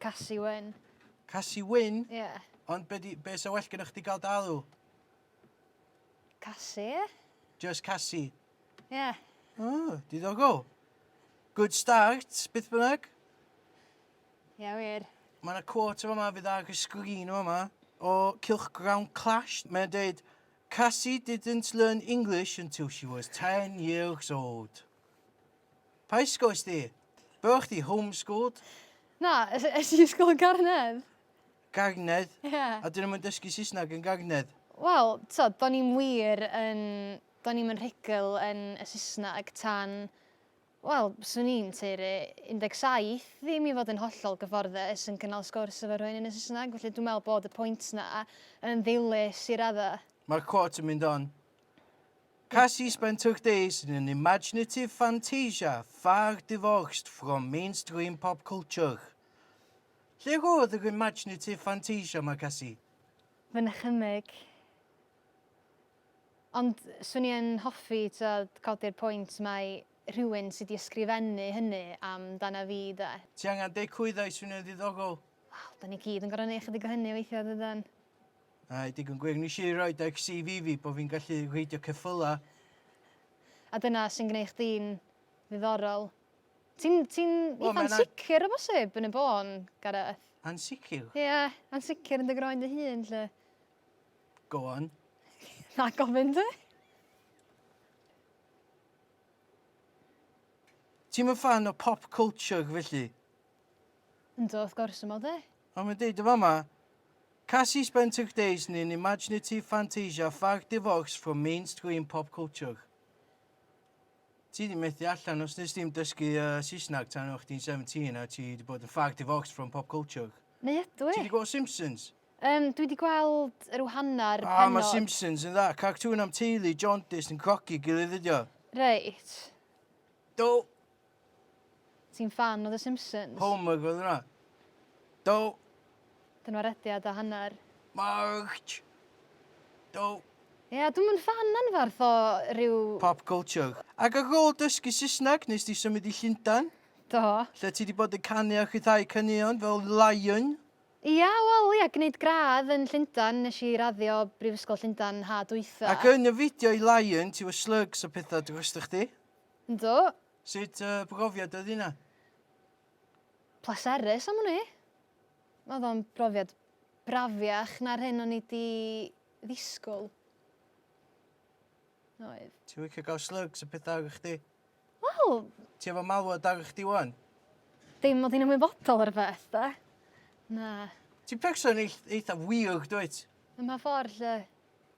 Casi Wyn. Casi Wyn? Ie. Yeah. Ond be, di, be sa well gyda chdi gael dalw? Casi, ie. Yeah. Just Casi? Ie. Yeah. Oh, diddogol. Good start, beth bynnag. Ie, yeah, wir. Mae yna quote yma fydd ar y sgrin yma o Cylchgrawn Clash. Mae'n dweud, Cassie didn't learn English until she was 10 years old. Pa ysgol ysdi? Bo chdi homeschooled? Na, es, es i ysgol yn Garnedd. Garnedd? Ie. Yeah. A dyn nhw'n dysgu Saesneg yn Garnedd? Wel, so, do'n i'n wir yn... Do'n i'n yn rhugl yn y Saesneg tan... Wel, swn i'n teiri 17, ddim i fod yn hollol gyfforddus yn cynnal sgwrs efo rhywun yn y Saesneg, felly dwi'n meddwl bod y pwynt na yn ddilys i radda. Mae'r quote yn mynd on. Kasi spent her days in an imaginative fantasia far divorced from mainstream pop culture. Lle roedd yr imaginative fantasia yma, Kasi? Fy nychymyg. Ond swn i yn hoffi, tibod, codi'r pwynt mai rhywun sy 'di ysgrifennu hynny am dana fi, 'de. Ti angen dechrau dda i swnio'n ddiddorol. Wel, 'dan ni gyd yn gorfod neud chydig o hynny weithia', dydan? A, digon gwir, nes i roi ar CV fi bod fi'n gallu reidio ceffylau. A dyna sy'n gwneud chdi'n ddiddorol. Ti'n ti eitha ansicr o bosib yn y bôn, Gareth? Ansicr? Ie, yeah, ansicr yn dy groen dy hun, lle. Go on. Na gofyn dy? Ti'n mynd fan o pop culture felly? Yndw, wrth gwrs, aml de. Fel mae'n deud yn fama, Cassie spent her days in an imaginative fantasia far divorced from mainstream pop culture. Ti di methu allan os nes di'm dysgu uh, Saesneg tan o'ch di'n 17 a ti di bod yn far divorced from pop culture. Neu ydw i? Ti di gweld Simpsons? Um, dwi di gweld yr whanna'r pennod. Ah, mae Simpsons yn dda. Cartŵn am teulu, jaundice yn crogi gilydd ydi o. Reit. Do, Ti'n ffan o The Simpsons? Homer oedd hwnna. Do. Dyna rediad a hanner. March! Do. Ie, yeah, dwi'm yn ffan anfarth o rhyw... Pop culture. Ac ar ôl dysgu Saesneg, nes di symud i Llundain? Do. Lle ti di bod yn canu a rhyddhau caneuon fel Lion? Ia, wel ia, gwneud gradd yn Llundain, nes i raddio Brifysgol Llundain ha dwytha. Ac yn y fideo i Lion, ti efo slugs a petha drostoch chdi? Yndw. Sut uh, brofiad oedd hynna? Pleserus am hwnni. Oedd o'n brofiad brafiach na'r hyn o'n i di ddisgwyl. Oedd. Ti'n wicio gael slugs y pethau ar chdi? Wel... Ti efo malwod ar chdi wan? Dim mod i'n ymwybodol o'r beth, da. Na. Ti'n person eithaf weird, dwyt? Yma ffordd, lle.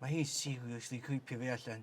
Mae hi seriously creepio fi allan.